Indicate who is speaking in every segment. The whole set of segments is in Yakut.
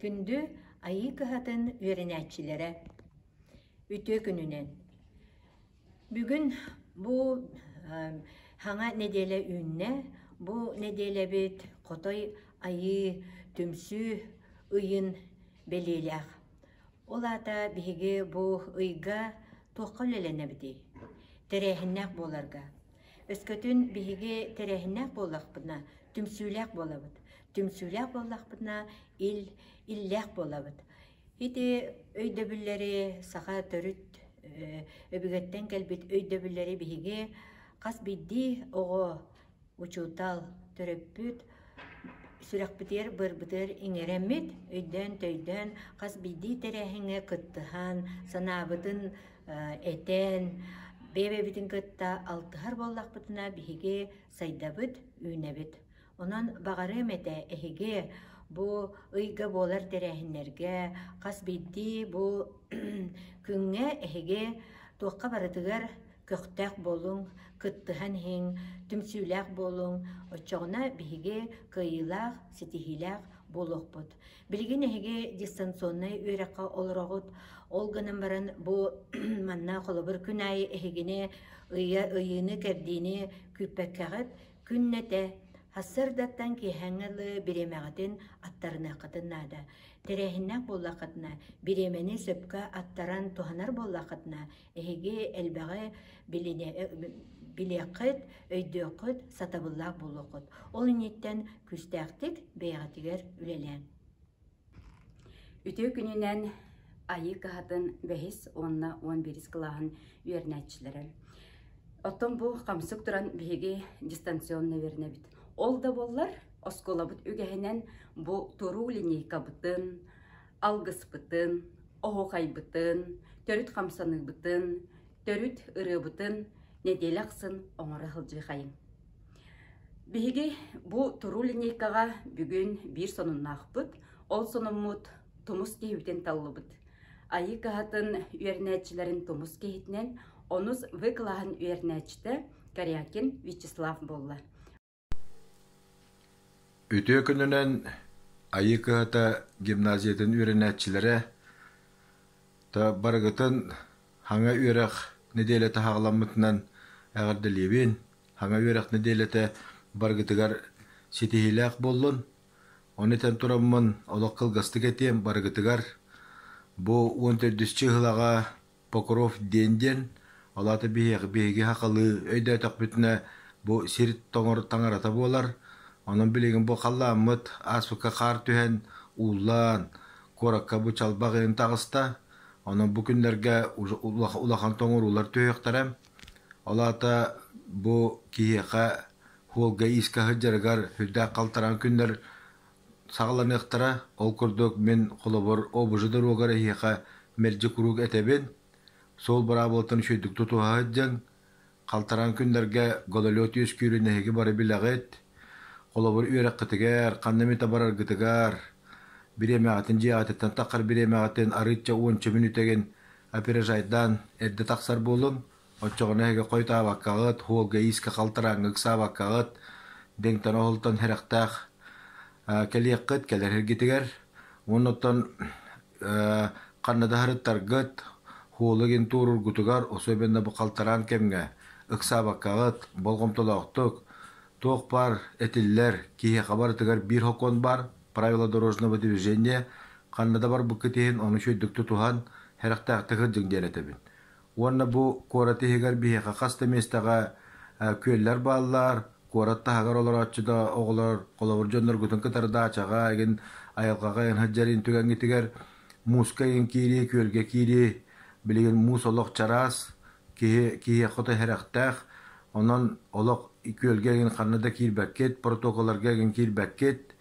Speaker 1: Күндү Айыы кыһатын үөрэнээччилэрэ! Үтүө күнүнэн! Бүгүн бу саҥа нэдиэлэ үүннэ. Бу нэдиэлэбит Хотой Айыы түмсүү ыйын бэлиэлээх. Ол аата биһиги бу ыйга туохха үлэлэнэбитий? Тэрээһиннээх буоларга, Өскөтүн биһиги тэрээһиннээх буоллахпына, түмсүүлээх буолабыт. Түмсүүлээх буоллахпына, ил, иллээх буолабыт. Ити өйдөбүллэри саха төрүт э, өбүгэттэн кэлбит өйдөбүллэри биһиги хас биирдии оҕо, учуутал, төрөппүт сүрэхпитигэр быарбытыгар иҥэрэммит өйдөөн-төйдөөн хас биирдии тэрээһиҥҥэ кыттыһан санаабытын этэн, бэйэбитин кытта алтыһар буоллахпытына, биһиги сайдабыт, үүнэбит. Онон баҕарыам этэ эһиги бу ыйга буолар тэрээһиннэргэ хас биирдии бу күҥҥэ эһиги туохха барытыгар көхтөөх буолуҥ, кыттыһан иһиҥ, түмсүүлээх буолуҥ. Оччоҕуна биһиги кыайыылаах, ситиһиилээх буолуохпут. Билигин эһиги дистанционнай үөрэххэ олороҕут, ол гынан баран бу манна холобур күн аайы эһигини ыйа ыйыыны-кэрдиини күүппэккэҕит, күннэтэ Сарсыардаттан киэһээҥҥи ылы бириэмэҕитин аттарыныаххытын наада. Тэрээһиннээх буоллаххытына, бириэмэни сөпкө аттаран туһанар буоллаххытына, Эһиги элбэҕи билини, билиэххит, өйдүөххүт, сатабыллаах буолуоххут. Ол инниттэн күүстээхтик бэйэҕитигэр үлэлээн. Үтүө
Speaker 2: күнүнэн айыы кыһатын бэһис уонна он бирис кылааһын үөрнээччилэрэ. Оттон бу хамсык туран биһиги дистанционно үөрнэбит. Ол да боллар, оскуолабыт үгэһинэн бу туруу линейкабытын, алгыспытын, оһуохайбытын, төрүт хамсаныыбытын, төрүт ырыабытын нэдиэлэ ахсын оҥоро сылдьыхайыҥ. Биһиги бу туруу линейкаҕа бүгүн биир сонуннаахпыт, ол сонуммут тумус киһибитин таллыбыт. Айыы каһатын үөрэнээччилэрин тумус киһитинэн, онус выкылаһан үөрэнээччитэ Корякин Вячеслав буолла.
Speaker 3: Үтүө күнүнэн Айыы кыһата гимназиятын үөрэнээччилэрэ, та барыгытын Хаҥа үөрэх нэдиэлэтэ хаҕаламмытынан эҕэрдэлиибин! Хаҥа үөрэх нэдиэлэтэ барыгытыгар ситиһиилээх буоллун! Ону этэн тураммын олох кылгастык этиэм барыгытыгар: бу уон төрдүс чыыһылаҕа Покров диэн диэн, ол аата биһиэхэ биһиги хахалыы өйдөөтөхпүтүнэ бу сир тоҥор таҥарата буолар. Онон билигин бу халлааммыт ааспыкка хаар түһэн, ууллан, куоракка бу чалбаҕыйын таҕыста. Онон бу күннэргэ улахан тоҥоруулар түһүөхтэрэ. Ол аата бу киһиэхэ Волга иискэ сылдьарыгар сүрдээх халтараан күннэр саҕаланыахтара. Ол курдук, мин, холобур, обужа доруогар эһиэхэ мэлдьи куруук этэбин, суол быраабылаттан үчүгэйдик тутуһа сылдьыҥ, халтараан күннэргэ гололед үөскүүрүн эһиги бары билэҕит. Холобур, үөрэххитигэр, ханна эмит бараргытыгар, бириэмэҕитин, дьиэҕититтэн тахсар бириэмэҕитин арыычча уонча мүнүүтэгин опережайдаан эрдэ тахсар буолуҥ. Оччоҕуна эһиги хойутаабаккаҕыт, уолга иискэ халтарааҥҥа ыксаабаккаҕыт, дэҥтэн оһолтон сэрэхтээх кэлиэххит кэлэр эргитигэр уонна оттон ханна да сырыттаргыт, уолу игин туоруургутугар особенно бу халтараан кэмҥэ ыксаабаккаҕыт болҕомтолоохтук, туох баар этиллэр, киһиэхэ барытыгар биир сокуон баар, правила дорожного движения, ханна да барбыккыт иһин ону үчүгэйдик тутуһан, сэрэхтээхтик сылдьыҥ диэн этэбин. Уонна бу куорат иһигэр биһиэхэ хас да миэстэҕэ күөллэр бааллар, куорат таһыгар олорооччу да оҕолор холобур дьонноргутун кытары даачаҕа игин айылҕаҕа ыйан сылдьарыын түгэҥҥитигэр мууска игин киирии, күөлгэ киирии, билигин муус олох чараас, киһи киһиэхэ хото сэрэхтээх. Онон олох күөлгэ игин ханна да киирбэккит, протоколларга игин киирбэккит.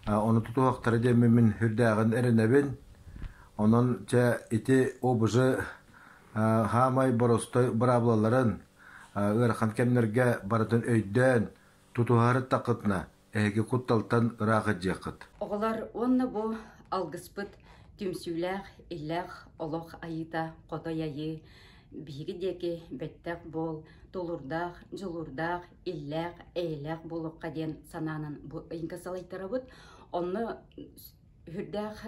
Speaker 3: Ону тутуһахтара диэммин үрдээҕин эрэнэбин. Онон чэ ити ОБЖ хаамай боростой быраабылаларын ыарахан кэмнэргэ барытын өйдөөн, тутуһарыттаххытына, эһиги кутталтан ыраах илдьиэххит. Оҕолор уонна
Speaker 2: бу алгыспыт түмсүүлээх, иллээх олох айыыта хотой айыы биһиги диэки бэттэх буол, тулурдаах, дьулурдаах, иллээх, эйэлээх буолуохха диэн санаанан бу ыйга салайтарабыт. Онно Үһүрдээх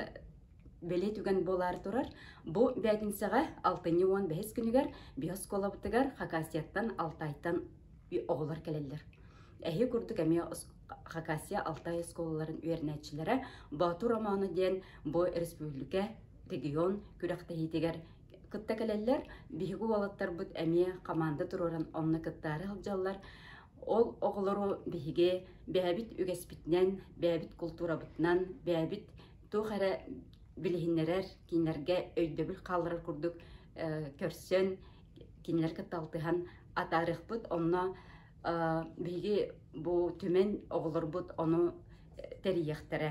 Speaker 2: бэлиэ түгэн буолаар турар, бу бээтинсэҕэ алтынньы уон бэһис күнүгэр биоскуолабытыгар Хакасияттан Алтайтан оҕолор кэлэллэр. Эһи курдук эмиэ Хакасия Алтай оскуолаларын үөрэнээччилэрэ Боотур Романо диэн бу республика регион күрэхтэһиитигэр кытта кэлэллэр. Биһиги уолаттарбыт эмиэ хамаанда туруоран онно кыттаары сылдьаллар. Ол оҕолору биһиги бэйэбит үгэспитинэн, бэйэбит култуурабытынан, бэйэбит туох эрэ билиһиннэрэр, кинилэргэ өйдөбүл хааларар курдук көрсөн, кинилэргэ талтыһан атаарыахпыт. Онно биһиги бу түмэн оҕолорбут ону тэрийиэхтэрэ.